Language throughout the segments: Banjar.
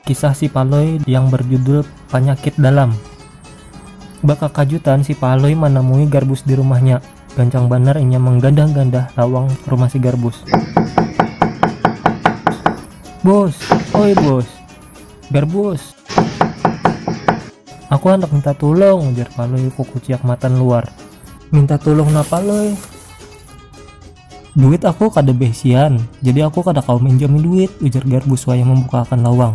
Kisah si Palui yang berjudul Panyakit Dalam Bakakajutan si Palui manamui Garbus di rumahnya. Gancang banar inya manggandah-gandah lawang rumah si Garbus. Bus! Oi Bus! Garbus! Aku handak minta tulung, ujar Palui kukuciak matan luar. Minta tulung napa Lui? Duit aku kada beisian, jadi aku kada kawa minjami duit, ujar Garbus wayah mambukaakan lawang.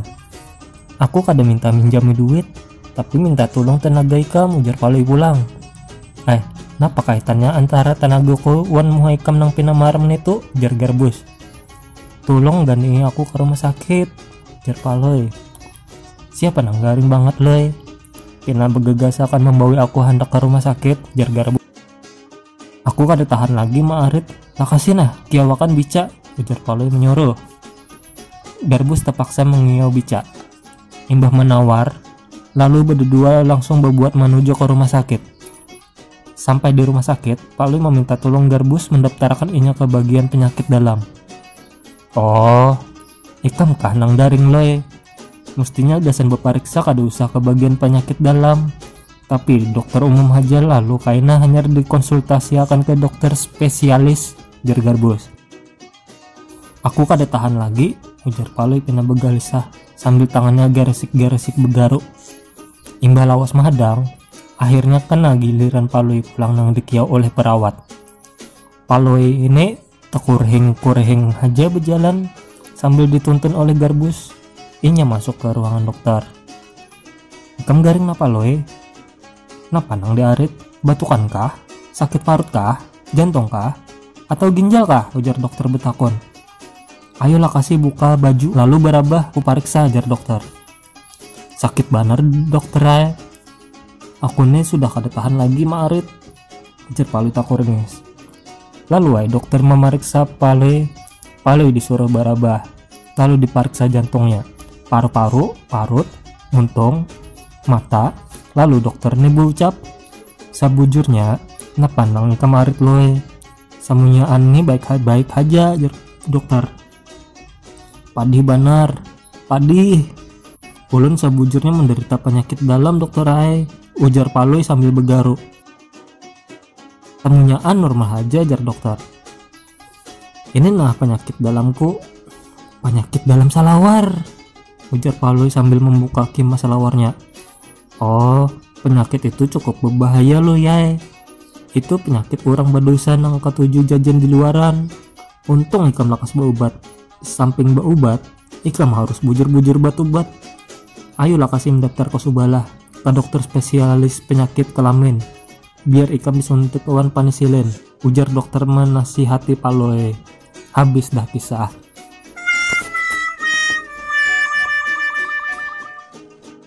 Aku kada minta minjami duit, tapi minta tulung tanaga ikam, ujar Palui pulang. Eh, napa kaitannya antara tanagaku wan muha ikam nang pina marem nitu, ujar Garbus. Tulung gandingi aku ka rumah sakit. Jerpa loy. Siapa nang garing banget loy? Pina begegas akan membawa aku hendak ke rumah sakit, jer Garbu. Aku kada tahan lagi ma Arit, lakasi nah, kiawakan bica, ujar Palui menyuruh. Garbus terpaksa mengiyau bica. Imbah menawar, lalu berdua langsung berbuat menuju ke rumah sakit. Sampai di rumah sakit, Palui meminta tolong Garbus mendaftarkan inya ke bagian penyakit dalam. Oh, Ikam kah nang daring Loe? Mustinya gasan bapariksa kada usah ka bagian panyakit dalam. Tapi dokter umum haja lalu kaina hanyar dikonsultasiakan ka dokter spesialis, jar Garbus. Aku kada tahan lagi, ujar Palui pina bagalisah sambil tangannya garesik-garesik begaruk. Imbah lawas mahadang, akhirnya kena giliran Palui pulang nang dikiau oleh perawat. Palui ini Takurhing-kurhing haja bejalan sambil dituntun oleh Garbus, inya masuk ke ruangan dokter. Ikam garing napa Loe? Napa nang diarit? Batukan kah? Sakit parut kah? Jantung kah? Atau ginjal kah? ujar dokter betakun. Ayolah kasih buka baju lalu barabah kupariksa jar dokter. sakit banar dokter ay aku nih sudah kada tahan lagi maarit ujar palui takurngis lalu ay dokter mamariksa palui palui disuruh barabah lalu dipariksa jantungnya paru-paru parut muntung mata lalu dokter nih beucap sabujurnya napa nang ikam arit lui samunyaan nih baik baik haja jar dokter Padih banar, padih. Ulun sabujurnya menderita panyakit dalam dokter ai, ujar Palui sambil begaru. Temunyaan normal haja, jar dokter. Ini nah panyakit dalamku. Panyakit dalam salawar, ujar Palui sambil membuka kima salawarnya. Oh, penyakit itu cukup berbahaya loh yai. Itu penyakit orang berdosa nang katuju jajan di luaran. Untung ikam lakas berubat. Samping berubat, ikam harus bujur-bujur batubat. Ayo lakas im daftar ke subalah, ke dokter spesialis penyakit kelamin. Biar ikam disuntik wan panisilin, ujar dokter menasihati Palui. Habis dah kisah.